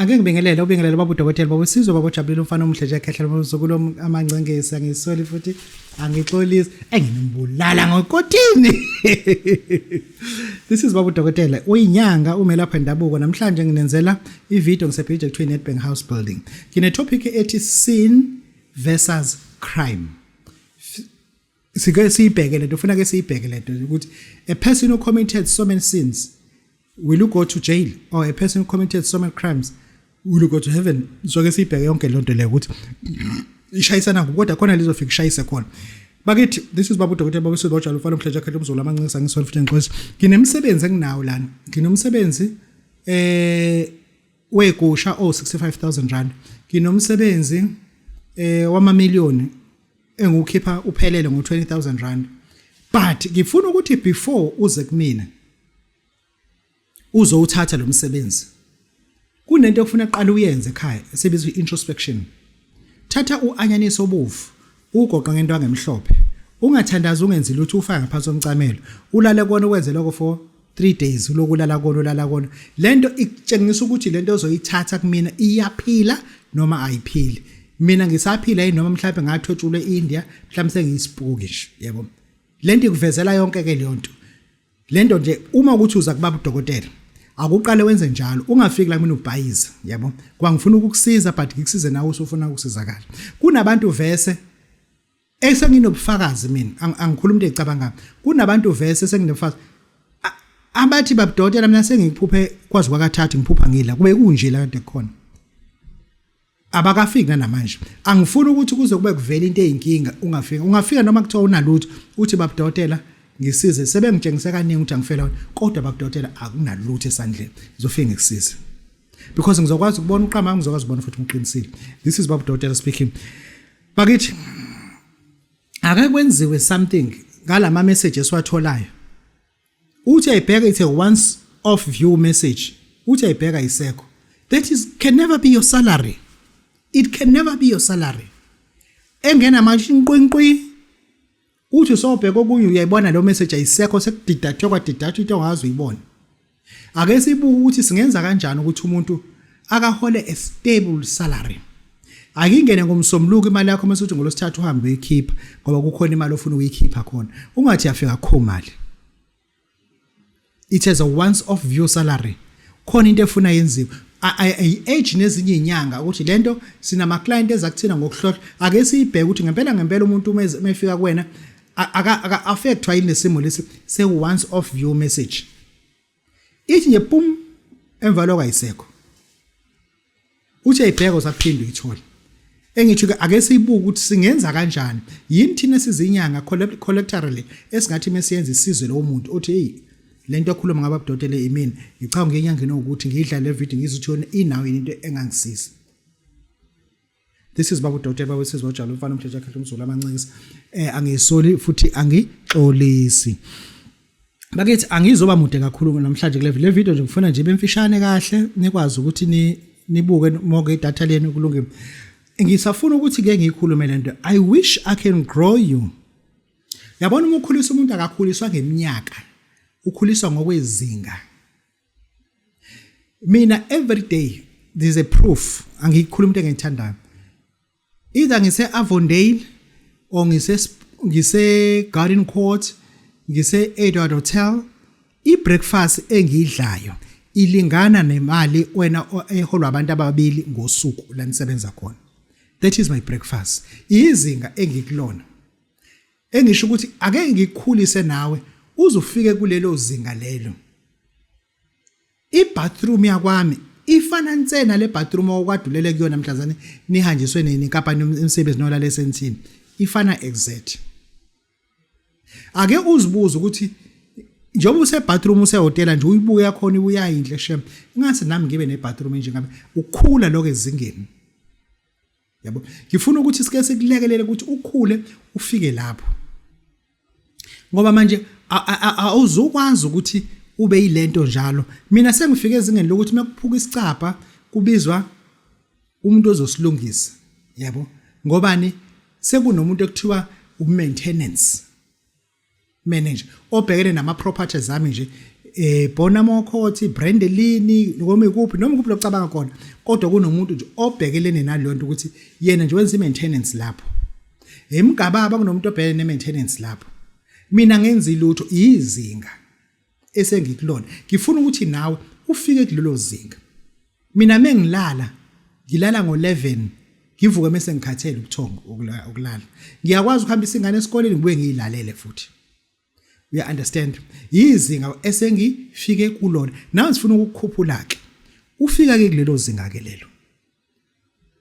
Ake ngibingelele ubingelele baba udokotela baba usizwe baba ojabulile umfana omuhle nje ekhehlela umzukulu amangcengesi angisoli futhi angixolisi engimbulala ngokotini This is baba udokotela uyinyanga umelapha endabuko namhlanje nginenzela ivideo ngisebhije kuthiwa Nedbank House Building ngine topic ethi sin versus crime sike siyibheke lento ufuna ke siyibheke lento ukuthi a person who committed so many sins will you go to jail or a person who committed so many crimes will you go to heaven so ke siyibheke yonke lonto le ukuthi ishayisana kodwa khona lizofika ishayise khona bakithi this is babu dokotela babu sibotshwa lufana umhleja khetha umzulu amancinisa ngisona futhi ngixolisa nginemsebenzi enginawo lana nginomsebenzi eh wegusha o 65000 rand nginomsebenzi eh wama million engiwukhipha uphelele ngo 20000 rand but ngifuna ukuthi before uze kumina uzowuthatha lo msebenzi kunento okufuna qala uyenze ekhaya esebizwa introspection thatha uanyanisi obovu ugoqa ngento angemhlophe ungathandazi ungenzi lutho ufaka ngaphansi omcamelo ulale kona ukwenze lokho for 3 days ulokulala kona ulala kona lento ikutshengisa ukuthi lento ozoyithatha kumina iyaphila noma ayiphili mina ngisaphila yini noma mhlawumbe ngathotshulwe eIndia mhlawumbe sengiyisipuki nje yebo lento ikuvezela yonke ke leyo nto lento nje uma ukuthi uza kubaba udokotela akuqale wenze njalo ungafiki la mina ubhayiza yabo kwangifuna ukukusiza but ngikusize nawe usufuna ukusizakala kunabantu vese Ey senginobufakazi mina angikhuluma into ecabanga kunabantu vese senginobufakazi abathi babudotela mina sengikuphuphe kwazi kwakathathu ngiphupha ngila kube kunje la kade khona abakafiki namanje angifuni ukuthi kuze kube kuvela into eyinkinga ungafika ungafika noma kuthiwa unalutho uthi babudotela ngisize sebengitshengise kaningi ukuthi angifela wena kodwa babudotela akunalutho esandleni ngizofike ngikusize because ngizokwazi ukubona uqama ngizokwazi ukubona futhi ngiqinisile this is babudotela speaking bakithi ake kwenziwe something ngalama message esiwatholayo uthi ayibheka ithe once off view message uthi ayibheka isekho that is can never be your salary it can never be your salary engena manje inqwinqwi Uthi sobheka okunye uyayibona leyo message ayisekho sekudidathwe kwadidathwa into ongazi uyibone. Ake sibuke ukuthi singenza kanjani ukuthi umuntu akahole a stable salary. Akingene ngomsombuluko imali yakho mase uthi ngolosithathu uhambe uyikhipha ngoba kukhona imali ofuna ukuyikhipha khona. Ungathi yafika kho mali. it has a once off view salary khona into efuna yenziwe i-age nezinye izinyanga ukuthi lento sinama client eza kuthina ngokuhlohla ake siyibheke ukuthi ngempela ngempela umuntu uma efika kuwena aka affectwa yini lesimo lesi se once off view message ithi nje pum emva lokho ayisekho uthi ayibheka usaphinde uyithole engithi ke ake siyibuke ukuthi singenza kanjani yini thina sizinyanga collectively esingathi mesiyenza isizwe lo muntu othi hey lento ekhuluma ngaba budotele imini ngicabanga ngenyangeni ukuthi ngidla le video ngizuthi yona inawo into engangisiza this is babu dothe babu sizwa njalo mfana umdletshe akhe umzulu amancisa eh angisoli futhi angixolisi bakithi angizoba mude kakhulu namhlanje kule le video nje ngifuna nje bemfishane kahle nikwazi ukuthi ni nibuke moke idatha lenu kulungile ngisafuna ukuthi ke ngikhulume lento i wish i can grow you yabona uma ukhulisa umuntu akakhuliswa ngeminyaka ukhuliswa ngokwezinga mina every day there's a proof angikhuluma into engiyithandayo either ngise Avondale or ngise ngise Garden Court ngise Edward Hotel i breakfast engiyidlayo ilingana nemali wena eholwa abantu ababili ngosuku la nisebenza khona that is my breakfast izinga engikulona Engisho ukuthi ake ngikukhulise nawe uze ufike kulelo zinga lelo. I-bathroom yakwami ifana nsena le bathroom okwadulele kuyona mhlazane nihanjiswe nini kapa umsebenzi nolale sensini ifana exact ake uzibuze ukuthi njengoba use bathroom use hotel nje uyibuke yakhona uyayinhle shem ingase nami ngibe ne bathroom nje ngabe ukukhula lokho ezingeni yabo ngifuna ukuthi sike sikulekelele ukuthi ukhule ufike lapho ngoba manje awuzukwazi ukuthi ube yilento njalo mina sengifike ezingeni lokuthi makuphuka isicapha kubizwa umuntu ozosilungisa yabo ngobani sekunomuntu ekuthiwa umaintenance manager obhekene nama properties ami nje eh bona mokhothi brand elini noma ikuphi noma ikuphi locabanga khona kodwa kunomuntu nje obhekelene nalonto ukuthi yena nje wenza maintenance lapho emgababa kunomuntu obhekene ne maintenance lapho mina ngenza ilutho izinga esengikulona ngifuna ukuthi nawe ufike kulelo zinga mina mengilala ngilala ngo11 ngivuke mase ngikhathele ubuthongo ukulala ngiyakwazi ukuhambisa ingane esikoleni ngibuye ngiyilalele futhi uya understand yizinga esengifike kulona nawe sifuna ukukhuphula ke ufika ke kulelo zinga ke lelo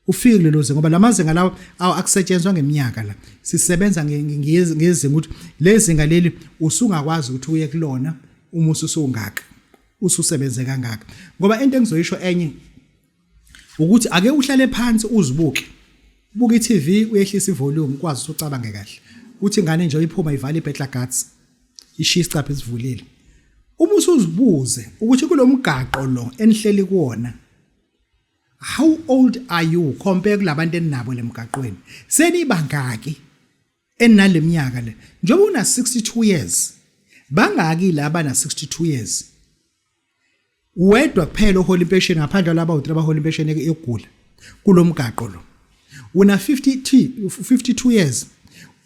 ufike kulelo zinga ngoba lamazinga lawo awu akusetshenzwa ngeminyaka la sisebenza ngezinga ukuthi lezinga leli usungakwazi ukuthi uye kulona uma ususungaka ususebenze kangaka ngoba into engizoyisho enye ukuthi ake uhlale phansi uzibuke buka iTV uyehlisa ivolume ukwazi ukuthi ucabange kahle uthi ingane nje iphuma ivala ibhetla guts ishiya isicapha esivulile uma usuzibuze ukuthi kulomgaqo lo enihleli kuona How old are you compare kulabantu eninabo lemgaqweni? Senibangaki eninaleminyaka le? Njengoba una 62 years, bangaki laba na 62 years? Wedwa kuphela ohola impesheni ngaphandle laba u3 abahola impesheni yokugula kulomgaqo lo. Una 50 52 years.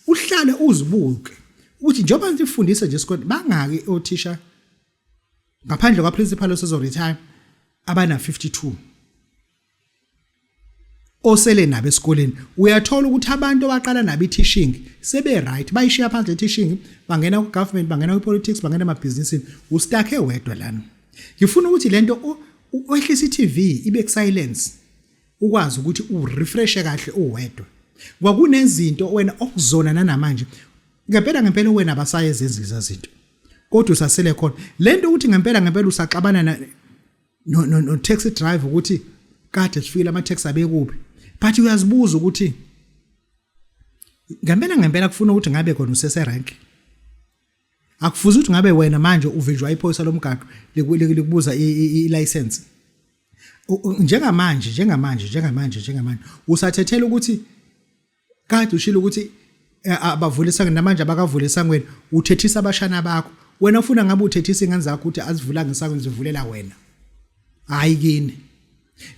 Uhlale uzibuke ukuthi njengoba nifundisa nje isikole bangaki othisha ngaphandle kwaprincipal osezoretire abana-52 osele nabo esikoleni uyathola ukuthi abantu abaqala nabo i-teaching sebe-right bayishiya phansi le-teaching bangena ku-government bangena kwi-politics bangena emabhizinisini ustakhe wedwa lana ngifuna ukuthi le nto wehlisa i-tv ibe ku-silence ukwazi ukuthi urefreshe kahle uwedwa kwakunezinto wena okuzona nanamanje ngempela ngempela wena abasayezenzi leza zinto kodwa usasele khona lento ukuthi ngempela ngempela usaxabana na no no, no taxi driver ukuthi kade sifikile ama taxi abekuphi but uyazibuza ukuthi ngempela ngempela kufuna ukuthi ngabe khona usese rank akufuzi ukuthi ngabe wena manje uvinjwa iphoyisa lomgaqo likubuza i license njengamanje njengamanje njengamanje njengamanje usathethela ukuthi kade ushilo ukuthi eh, abavulisa namanje abakavule isangweni uthethisa abashana bakho wena ufuna ngabe uthethisa ingane zakho ukuthi azivula ngesangweni zivulela wena hayi kini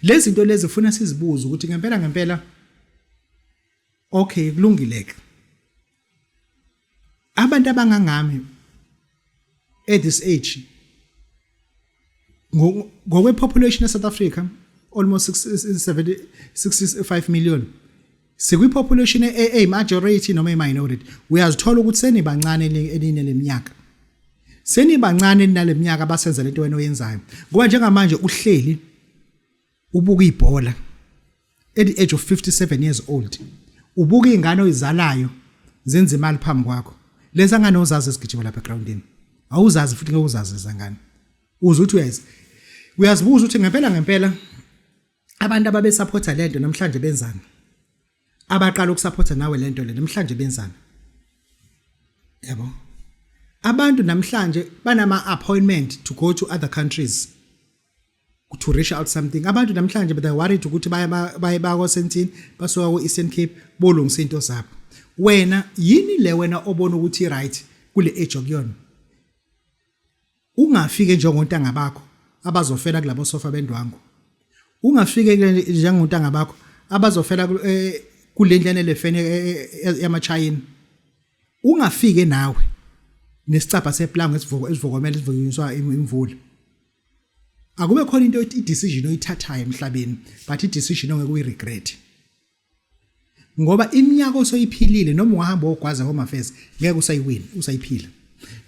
lezi zinto lezi funa sizibuze ukuthi ngempela ngempela okay kulungile ke abantu abangangami at this age ngokwe population e South Africa almost 60 65 million sikwi population e a majority noma e minority uyazithola ukuthi senibancane eline leminyaka senibancane naleminyaka abasenza lento wena oyenzayo ngoba njengamanje uhleli ubuka ibhola at the age of 57 years old ubuka ingane oyizalayo zenza imali phambi kwakho lesa ngane uzazi esigijima lapha groundini awuzazi futhi ngeke uzazi izangane uze uthi uyazi uyazibuza ukuthi ngempela ngempela abantu ababe supporta lento namhlanje benzani abaqala ukusupporta nawe lento le namhlanje benzani yabo abantu namhlanje banama appointment to go to other countries to reach out something abantu namhlanje but they worried ukuthi baye baye bakosentini basuka ku Eastern Cape bolungisa into zabo wena yini le wena obona ukuthi right kule age okuyona ungafike njengontanga bakho abazofela kulabo sofa bendwangu ungafike njengontanga bakho abazofela eh, kulendlane lefene eh, eh, yamachayina ungafike nawe nesicabha seplango esivuko esivukomela isivunyiswa imvula akube khona into i decision oyithathayo emhlabeni but i decision ongeke uyi regret ngoba iminyaka osoyiphilile noma ungahamba ogwaza home affairs ngeke usayiwina usayiphila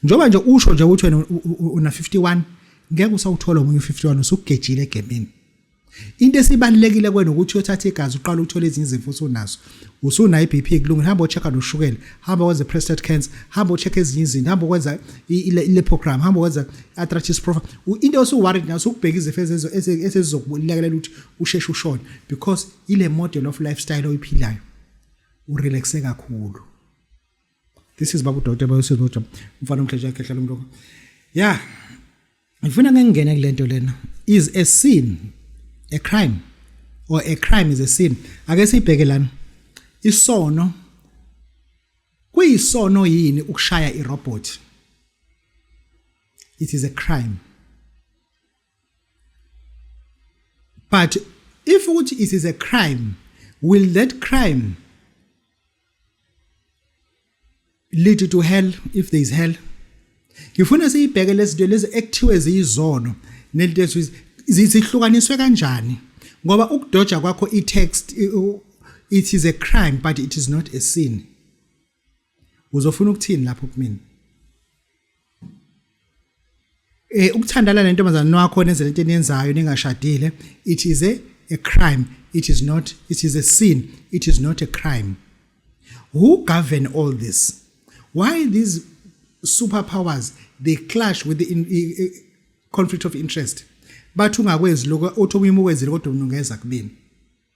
njoba nje usho nje ukuthi wena una 51 ngeke usawuthola omunye 51 usugejile egemini Into esibalekile kwena ukuthi uyothatha igazi uqala uthole ezinye izifo usunazo. Usuna iBP kulungile hamba ochecka noshukela, hamba wenze prostate cancer, hamba ochecka ezinye izinto, hamba ukwenza ilepogram, hamba wenza arthritis profile. Into osu worried nayo ukubheka izifo ezenzo esezizokulekelela ukuthi usheshe ushone because ile model of lifestyle oyiphilayo. Urelaxe kakhulu. this is babu doctor bayosiza noja umfana omhlesha yakhe hlala umloko yeah ngifuna ngengene kulento lena is a sin a crime or a crime is a sin ake sibheke lana isono kuyisono yini ukushaya irobot it is a crime but if ukuthi it is a crime will that crime lead to hell if there is hell ngifuna siyibheke lezinto lezi ekuthiwe ziyizono nelinto ethi zihlukaniswe kanjani ngoba ukudoja kwakho i-text it is a crime but it is not a sin uzofuna ukuthini lapho kumina eh ukuthandana nentombazana wakho nenze lento eniyenzayo ningashadile it is a, a crime it is not it is a sin it is not a crime who govern all this why these superpowers they clash with the in, uh, conflict of interest bathi ungakwenzi lokho othi omunye ukwenzile kodwa umnungeza kubini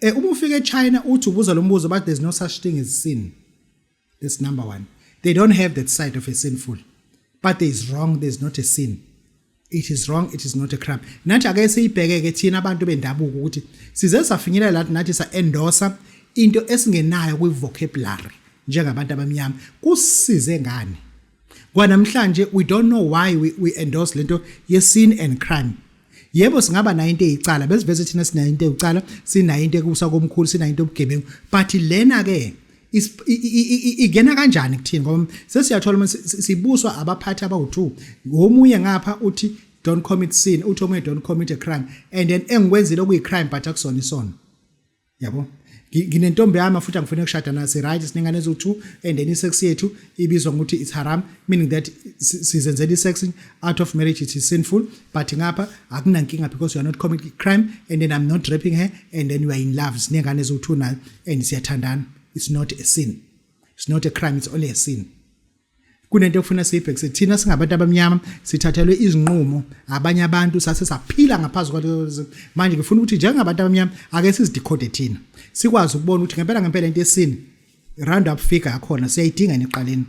Eh uma ufika eChina uthi ubuza lo mbuzo but there's no such thing as sin. That's number 1. They don't have that side of a sinful. But there is wrong, there's not a sin. It is wrong, it is not a crime. Nathi ake siyibheke ke thina abantu bendabuko ukuthi size safinyelela lathi nathi sa endorser into esingenayo kwi vocabulary njengabantu abamnyama. Kusize ngani? kwanamhlanje we don't know why we, we endorse lento ye sin and crime yebo singaba nayo into eyicala besiveze thina sinayo into eyicala sinayo into ekusa komkhulu sinayo into obugebengu but lena ke igena kanjani kuthini ngoba sesiyathola uma sibuswa abaphathi abawu2 ngomunye ngapha uthi don't commit sin uthi omunye don't commit a crime and then engikwenzile okuyi crime but akusona isono yabo nginentombi yami futhi angifuni ukushada nayo si-right sinengane eziwu-two and then i-sex yethu ibizwa ngokuthi it's haram meaning that sizenzela i-sex out of marriage it is sinful but ngapha akunankinga because you are not committing crime and then i'm not raping her and then you are in love sinengane eziwu-two nayo and siyathandana it's not a sin it's not a crime it's only a sin kunento ekufuna siyibhekise thina singabantu abamnyama sithathelwe izinqumo abanye abantu sase saphila ngaphansi kwalezo manje ngifuna ukuthi njengabantu abamnyama ake sizidikhode thina sikwazi ukubona ukuthi ngempela ngempela into esini round up figure yakhona siyayidinga neqaleni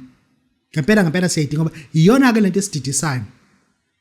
ngempela ngempela siyayidinga ngoba iyona ke lento esididisayo